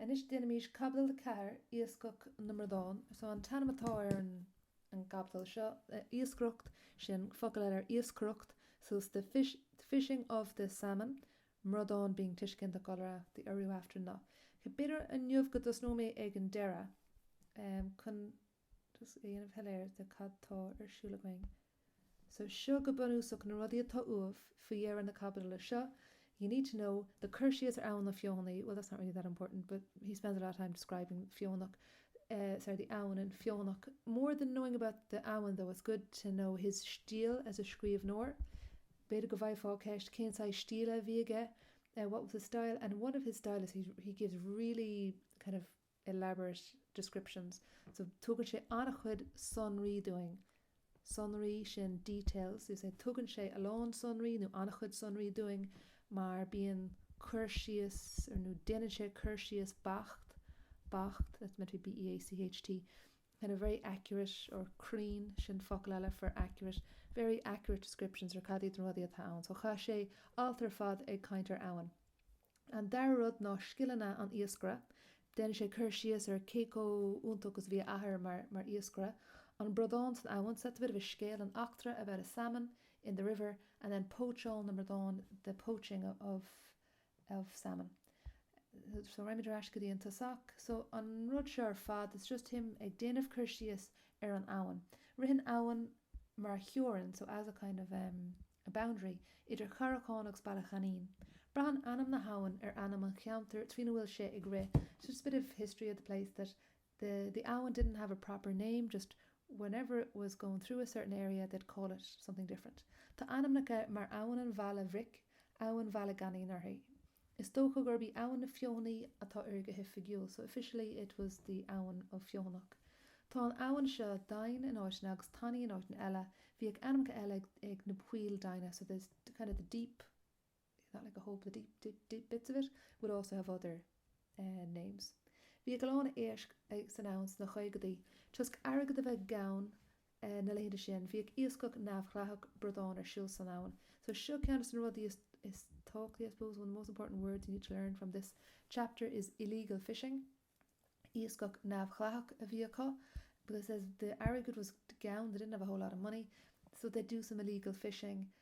Anois déanaimís Caibidil 4, Iascach na mBradán. So an t-ainm atá ar an an gcaibidil seo, Iascaireacht, sin focal eile ar iascaireacht, so it's the fish the fishing of the salmon, mbradán being tuiseal ginideach iolra, the urú after na. B'fhéidir inniu go dtosnóidh mé ag an deireadh, em, chun. just a dhéanamh soiléir cad tá ar siúl againn. So seo go bunúsach na rudaí atá uaibh faoi dheireadh na caibidle seo, you need to know the cur síos ar abhainn na Feothanaí, well that's not really that important but he spends a lot of time describing Feonach, sorry the abhainn in Feonach, more than knowing about the abhainn though it's good to know his stíl as a scríbhneoir, b'fhéidir go bhfaighfeá ceist cén saghas stíle a bhí aige, what was his style and one of his style is he gives really kind of. elaborate descriptions. So tugann sé an-chuid sonraí dúinn, sonraí sin details, you'd say tugann sé a lán sonraí nó an-chuid sonraí dúinn mar bíonn cur síos or nó déanann sé cur síos beacht, beacht, that's meant to be b-e-a-c-h-t, kind of very accurate or cruinn, sin focal eile for accurate, very accurate descriptions ar cad iad na rudaí atá ann. So chaith sé alt ar fad ag caint ar abhainn. An dara rud ná scileanna an iascaire. Déanann sé cur síos ar cé chomh iontach agus a bhí a athair mar iascaire. An bradán san abhainn, so it's a bit of a scéal an eachtra about a salmon in the river and then póitseáil na mbradán the poaching of of salmon. So raghaimid thar n-ais go dtí an tosach. So an rud seo ar fad it's just him ag déanamh cur síos ar an abhainn. Ritheann abhainn mar theorainn so as a kind of em. a boundary, idir Charrachán agus Baile Ghainín. Braitheann ainm na habhann ar ainm an cheantair trína bhfuil sé ag rith, so it's a bit of history of the place that the the abhainn didn't have a proper name just whenever it was going through a certain area they'd call it something different. Tá ainmneacha mar Abhainn an Bhaile Bhric, Abhainn Bhaile Ghainín uirthi. Is dócha gurb í Abhainn na Feothanaí atá uirthi go hoifigiúil, so officially it was the Abhainn of Feothanach. Tá an abhainn seo doimhin in áiteanna agus tanaí in áiteanna eile. Bhíodh ainmneacha eile ag na poill doimhne, so there's kind of the deep, not like a hole, but the deep, deep, deep bits of it would also have other names. Bhíodh a lán éisc san abhainn sna caogaidí, toisc airgead a bheith gann na laethanta sin, bhíodh iascach neamhdhleathach bradán ar siúl san abhainn. So seo ceann de na rudaí is is tábhachtaí, I suppose, one of the most important words you need to learn from this chapter is illegal fishing. Iascach neamhdhleathach a bhí acu because it says the airgead was gann, they didn't have a whole lot of money, so they'd do some illegal fishing.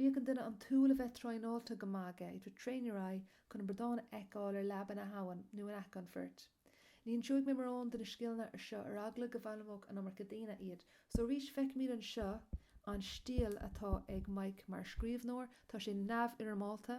Bhíodh ar dhuine an tsúil a bheith traenáilte go maith aige, you had to train your eye, chun an bradán a fheiceáil ar leaba na habhann nó in aice an phoirt. Ní inseoidh mé mórán de na scileanna anseo ar eagla go bhfoghlaimeodh an iomarca daoine iad. So arís feicimid anseo an stíl atá ag Mike mar scríbhneoir. Tá sé neamhfhoirmeálta.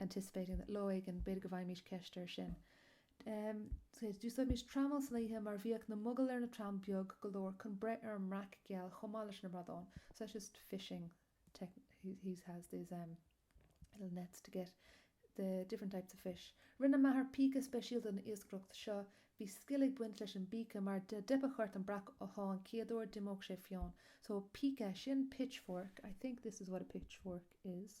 anticipating that Lá éigin, b'fhéidir go bhfaighimís ceist air sin. D'úsáidimís trameall san oíche mar bhíodh na mogaill ar na tram beag go leor chun breith ar an mbreac geal chomh maith leis na bradáin so that's just fishing technique he has these um little nets to get the different types of fish Rinne m'athair píce speisialta don iascaireacht seo Bhí scil ag baint leis an bpíce mar dá dteipfeadh ort an breac a shá an chéad uair d'imeodh sé fiáin so píce sin pitchfork I think this is what a pitchfork is.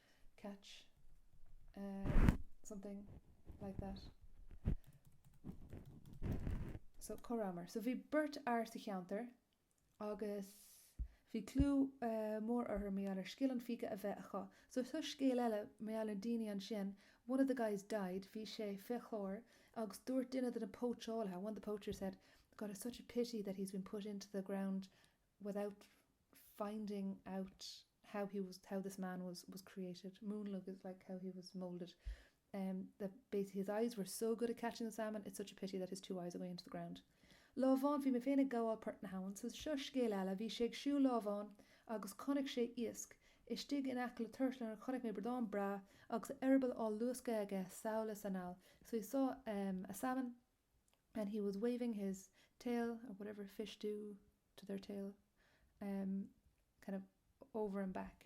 catch, something like that. So cá rabhamar? So bhí beirt fhear sa cheantar agus bhí clú mór orthu mar gheall ar scil an phíce a bheith acu. So seo scéal eile mar gheall ar daoine ansin, one of the guys died, bhí sé fé chlár agus dúirt duine de na póitseálaithe, one of the poachers said, God it's such a pity that he's been put into the ground without finding out how this man was created, múnlaigh is like how he was moulded, em, that basically his eyes were so good at catching the salmon, it's such a pity that his two eyes are going into the ground. Lá amháin bhí mé féin ag gabháil port na habhann, so seo scéal eile, bhí sé ag siúl lá amháin agus chonaic sé iasc, istigh in aice le Tuar Sáilín chonaic mé bradán breá agus a eireaball á luascadh aige sall is anall, so he saw, em, a salmon, and he was waving his tail or whatever fish do to their tail um kind of over and back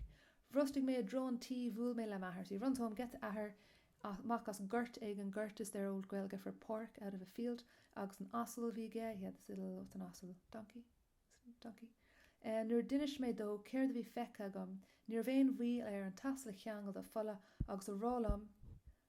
bhrostaigh mé i dtreo an tí bhuail mé le m'athair so he runs home, gets a athair amach as gort éigin gort is their old Gaeilge for páirc out of a field agus an asal a bhí aige he had this little what's an asal? donkey? donkey? Uh, nuair d'inis mé dó céard a bhí feicthe agam, ní raibh aon mhoill air an t-asal a cheangal de pholla agus a rá liom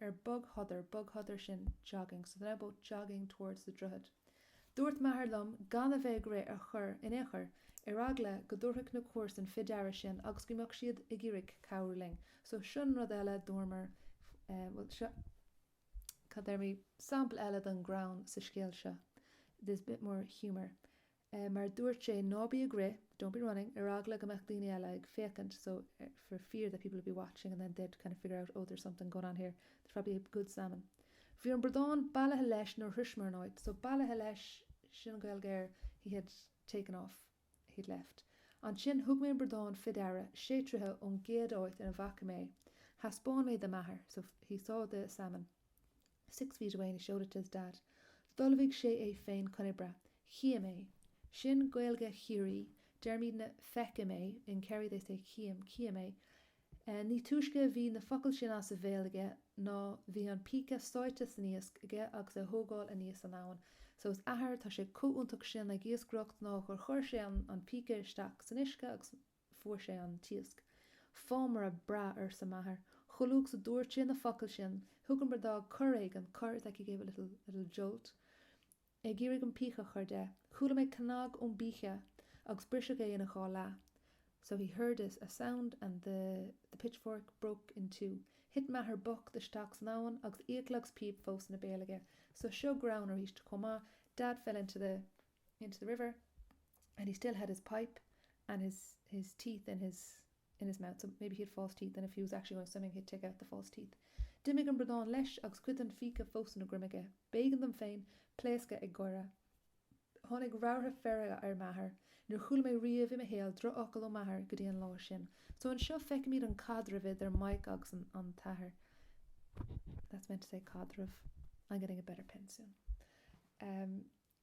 ar bogshodar, bogshodar sin jogging, so they're both jogging towards the droichead. Dúirt m'athair liom gan a bheith ag rith ar chor in aon chor, ar eagla go dtabharfadh na comharsain fé deara sinn agus go mbeadh siad ag iarraidh cabhrú linn, so sin rud eile dúramar, bhuel, seo cad a déarfaimid, sampla eile den ghreann sa scéal seo, there's a bit more humour. eh, mar dúirt sé, ná bí ag rith, don't be running, ar eagla go mbeadh daoine eile ag féachaint, so, er, for fear that people would be watching and then they'd kind of figure out, oh, there's something going on here, there's probably a good salmon. Bhí an bradán bailithe leis nuair shroiseamar an áit, so bailithe leis, sin an Gaeilge ar he had taken off, he'd left. Ansin thug mé an bradán fé deara, sé troithe ón gcéad áit ina bhfaca mé é. Thaispeáin mé do m'athair, so he saw the salmon. six feet away and he showed it to his dad d'ullmhaigh sé é féin chun oibre, chím é, sin Gaeilge Chiarraí, deirimidne, feicim é, in Kerry they say chím, cím é, ní túisce a bhí na focail sin as a bhéal aige ná bhí an píce sáite san iasc aige agus é á thógáil aníos an abhainn so his athair tá sé comh iontach sin ag iascaireacht ná gur chuir sé an, an píce isteach san uisce agus fuair sé an t-iasc. Fámaire breá arsa m'athair. Chomh luath is a dúirt sé na focail sin, thug an bradán cor éigin, cor is like he gave a little, little jolt, ag iarraidh an píce a chur de. Chuala mé cnag ón bpíce agus briseadh é ina dhá leath, so he heard this, a sound and the, the pitchfork broke in two. Thit m'athair bocht isteach san abhainn agus fhiacla agus píob fós ina bhéal aige, so seo greann arís chomh maith, dad fell into the, into the river and he still had his pipe and his his teeth in his in his mouth so maybe he had false teeth and if he was actually going swimming he'd take out the false teeth d'imigh an bradán leis agus cuid den phíce fós ina dhroim aige b'éigean dom féin pléascadh ag gáire tháinig rabhartha feirge ar m'athair níor chuala mé riamh i mo shaol drochfhocal ó m'athair go dtí an lá sin so anseo feicimid an caidreamh idir Maidhc agus an an t-athair that's meant to say caidreamh I'm getting a better pen soon um,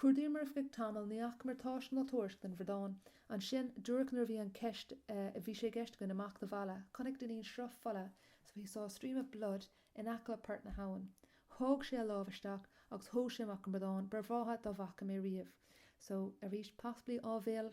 Chuardaíomar ar feadh tamaill, ní fhacamar tásc ná tuairisc den bhradán. Ansin, díreach nuair a bhí an ceist, eh, bhí sé i gceist againn imeacht abhaile, chonaic Dainín sruth fola, so he saw a stream of blood in aice port na habhann. Sháigh sé a lámh isteach agus thóg sé amach an bradán ba bhreátha dá bhfaca mé riamh. So, arís, possibly áibhéil?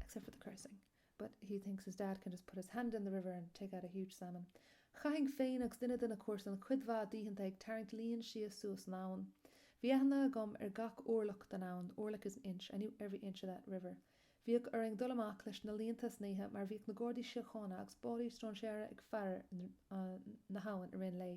except for the cursing, but he thinks his dad can just put his hand in the river and take out a huge salmon. Chaithfinn féin agus duine de na comharsain cuid mhaith d'oícheanta ag tarraingt líon síos suas an abhainn. Bhí aithne agam ar gach orlach den abhainn, orlach is an inch, I knew every inch of that river. Bhíodh orainn dul amach leis na líonta san oíche mar bhíodh na Gardaí Síochána agus báillí stróinséara ag faire na habhann i rith an lae.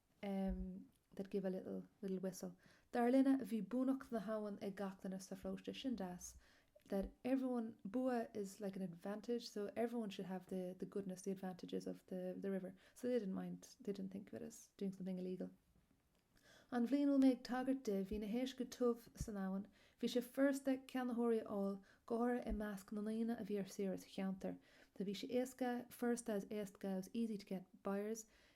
em they'd give a little, little whistle. Dar linne, bhí buannacht na habhann ag gach duine sa pharóiste sin, das, that everyone, bua is like an advantage, so everyone should have the the goodness, the advantages of the the river. So they didn't mind, they didn't think of it as doing something illegal. An bhliain a bhfuil mé ag tagairt di, bhí na héisc go tiubh san abhainn. Bhí sé furasta ceannaitheoirí a fháil, go háirithe i measc na ndaoine a bhí ar saoire sa cheantar. So bhí sé éasca, furasta is éasca, it was easy to get buyers,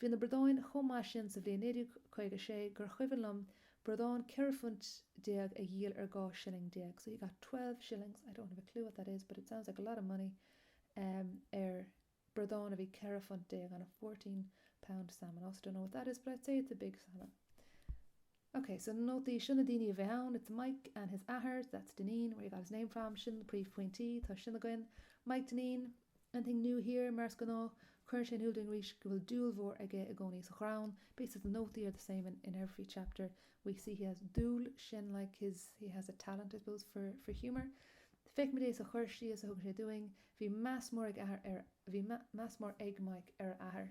Bhí na bradáin chomh maith sin sa bhliain 1956 gur chuimhin liom bradán ceithre phunt déag a dhíol ar dhá shilling déag, so he got twelve shillings, I don't have a clue what that is but it sounds like a lot of money, ar bhradán a bhí ceithre phunt déag on a fourteen pound salmon, also don't know what that is but I'd say it's a big salmon. Ok, so na nótaí, seo na daoine a bheidh ann, it's Maidhc and his athair, that's Dainín, where he got his name from, sin na príomhphointí, tá sin againn. Maidhc Dainín, anything new here, mar is gnáth, cuireann sé in iúl dúinn arís go bhfuil dúil mhór aige i gcónaí sa ghreann, basically the nótaí are the same in in every chapter, we see he has dúil sin like his he has a talent I suppose for for humour. Feicimid é sa chur síos a thugann sé dúinn, bhí meas mór ag athair ar bhí meas mór ag Maidhc ar a athair.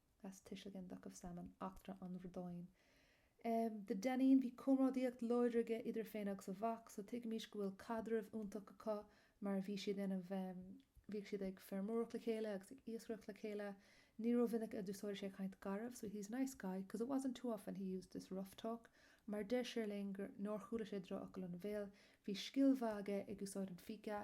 as tuisil gen. of salmon. Eachtra an Bhradáín. Um the Dainín, bhí comrádaíocht láidir aige idir é féin agus a mhac, so tuigimís go bhfuil caidreamh iontach acu mar bhí siad ina, bhíodh siad ag feirmeoireacht le chéile agus ag iascaireacht le chéile. Ní rómhinic a d'úsáideadh sé caint gharbh, so he's nice guy, because it wasn't too often he used this rough talk, mar deir sé linn gur, nár chuala sé drochfhocail ina bhéal. Bhí scil mhaith aige ag úsáid an phíce.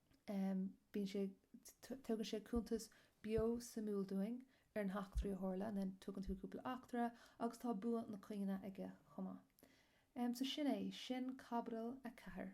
bíonn sé, tugann sé cuntas beo suimiúil dúinn ar na heachtraí a tharla, and then tugann tú cúpla eachtra agus tá bua na cainte aige chomh maith. So sin é, sin caibidil a ceathair.